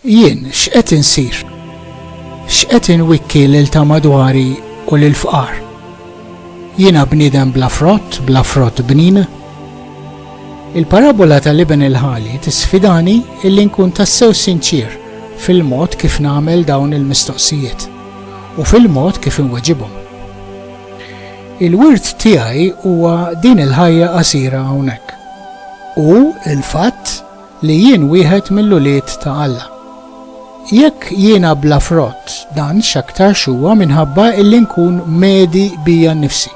Jien x'qed insir? X'qed inwikki lil ta' madwari u lil fqar? Jiena bniedem bla frott, bla frott bnin. Il-parabbola tal-iben il-ħali tisfidani illi nkun tassew sinċier fil-mod kif nagħmel dawn il-mistoqsijiet u fil-mod kif inweġibhom. Il-wirt tiegħi huwa din il-ħajja qasira hawnhekk u l-fatt li jien wieħed mill-ulied ta' Alla. Jekk jiena bla frott, dan x'aktarx huwa minħabba illi nkun medi bija nnifsi.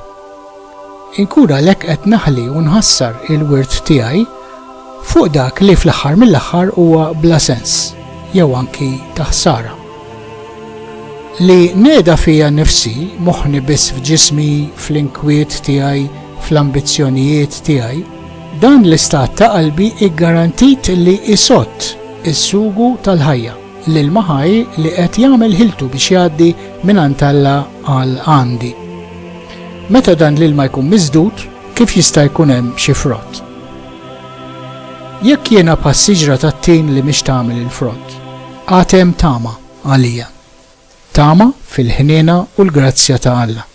Inkun għalhekk qed naħli u nħassar il-wirt tiegħi fuq dak li fl-aħħar mill-aħħar huwa bla sens, jew anki ta' ħsara. Li neda fija nnifsi, moħħni biss f'ġismi, fl-inkwiet tiegħi, fl-ambizzjonijiet tiegħi, Dan l-istat ta' qalbi hi garantit li jsott is-sugu tal-ħajja lil ma' ħaj li qed jagħmel ħiltu biex jgħaddi mingħand Alla għal għandi. Meta dan l-ilma jkun miżdud, kif jista' jkun hemm xi frott? Jekk jiena bħas-siġra tat-tin li mhix tagħmel il-frott, għad hemm tama għalija. Tama fil-ħniena u l-grazzja ta' Alla.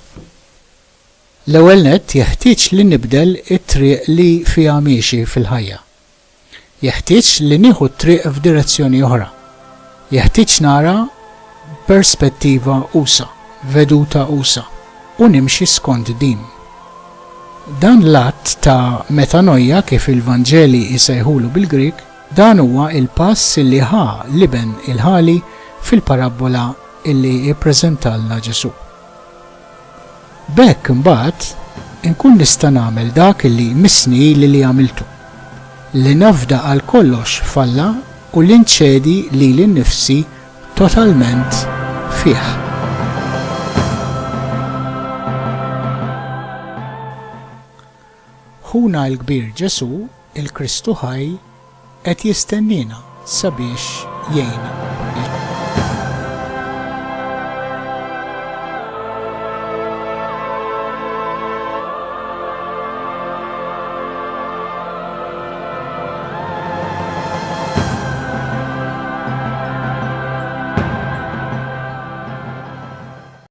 L-ewwel nett jeħtieġ li nibdel it-triq li fiha miexi fil-ħajja. Jeħtieġ li nieħu t-triq f'direzzjoni oħra. Jeħtieġ nara b'perspettiva usa', veduta usa', u nimxi skont din. Dan l-att ta' metanoia kif il-Vanġeli jsejħulu bil-Grieg, dan huwa l-pass li ħa l-iben il-ħali fil-parabbola li ppreżentalna Ġesù. B'hekk imbagħad inkun nista' nagħmel dak li jmissni ili li għamiltu, li nafda għal kollox f'Alla u li nċedi lili nnifsi totalment fih. Ħuna l-Kbir Ġesù, il-Kristu ħaj, qed jistenniena sabiex jgħinna.